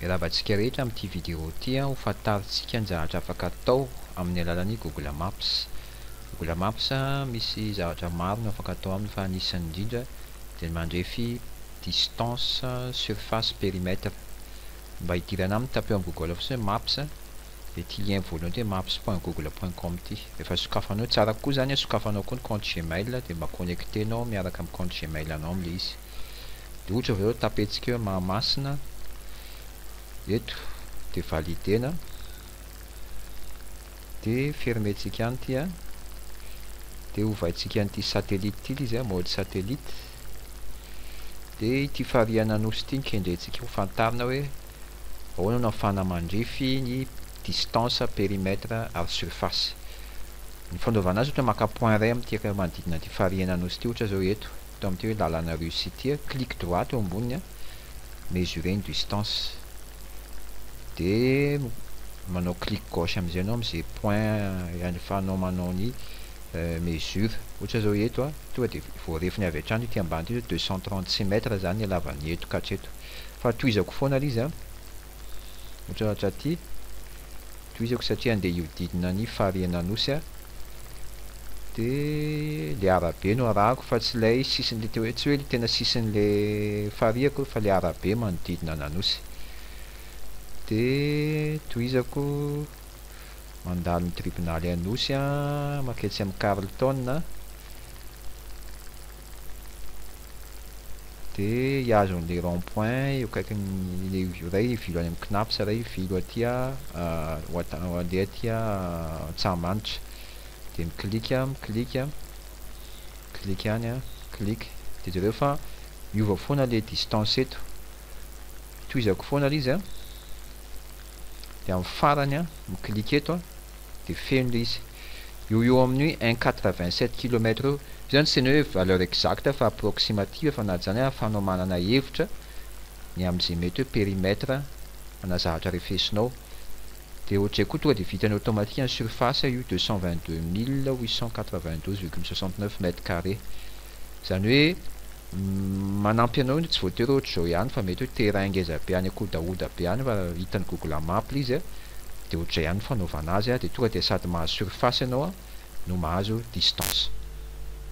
Miarahaba antsika rehetra amin'ity video ity, ho fantarintsika ny zavatra afaka atao amin'ny alalan'ny Google Maps. Google Maps misy zavatra maro no afaka atao aminy fa anisany indrindra dia ny mandrefy distance, surface, perimètre. Mba hidirana aminy tapeo amin'ny Google fotsiny hoe Maps dia ity lien voalohany ity hoe maps point google point com ity. Rehefa sokafanao, tsara koa izany sokafanao koa ny compte Gmail dia mba connecter-nao miaraka amin'ny compte Gmail-nao amin'ilay izy. dia ohatra avy eo tapentsika hoe Mahamasina eto dia validena dia fermentsika any ity a dia hovaintsika an'ity satellite ity ilay izy mode satellite dia ity farihan'ny Anosy ity no kendrentsika ho fantarina hoe ahoana no afahana mandrefy ny distance périmètre ary surface ny fanaovana azy ohatra maka point ray amin'ity manodidina an'ity farihan'ny Anosy ity ohatra izao eto Atao amin'ity hoe lalana russe ity, clique droite eo amboniny a, mesurer une distance, dia manao clique gauche amin'izay ianao amin'izay point ialefanao manao ny mesure, ohatra izao eto a, tonga dia voarefiny avy hatrany ity ambany ity izao deux cent trente cm izany ny halavan'ny eto ka hatreto, fa tohizako foana ilay izy a. Otratra aty, tohizako satria andeha hiodidina ny farihin'Anosy aho, de le arabe no arahako fa tsy ilay sisin'le tsy hoe le tena sisin'le farihy akory fa le arabe manodidina an'Anosy, de tohizako mandalo ny tribonaly Anosy aho, maketsy amin'ny Carlton aho, Dia hihazo an'ilay rond point eo akaikin'ilay vy iray ilay vilo any amin'ny CNAPS ilay vilo aty handeha aty Antsahamanitra. Dia mi-click aho, mi-click, mi-click any an, click. Dia jereo fa miova foana ilay distance eto. Tohizako foana ilay izy an. Dia amin'ny farany an, mi-click eto an, dia feno ilay izy. Eo eo amin'ny hoe un quatre vingt sept kilomètre eo. Io zany tsy ny hoe valeur exacte fa approximative fa na zany ary afahanao manana hevitra ny amin'izay mety hoe périmètre ana zavatra refesinao. Dia ohatrizay koa tonga dia vitany automatique ny surface io deux cent vingt deux mille huit cent quatre vingt douze virgule soixante neuf mètre carré. Izany hoe manampy anao indry tsy voatery ohatra izao ihany fa mety hoe terrain ngeza be any akodahoda be any raha hitan'ny google map le izy a de ohatr'izay ihany ny fanaovana azy a de tonga de sady mahazo surface ianao a no mahazo distance.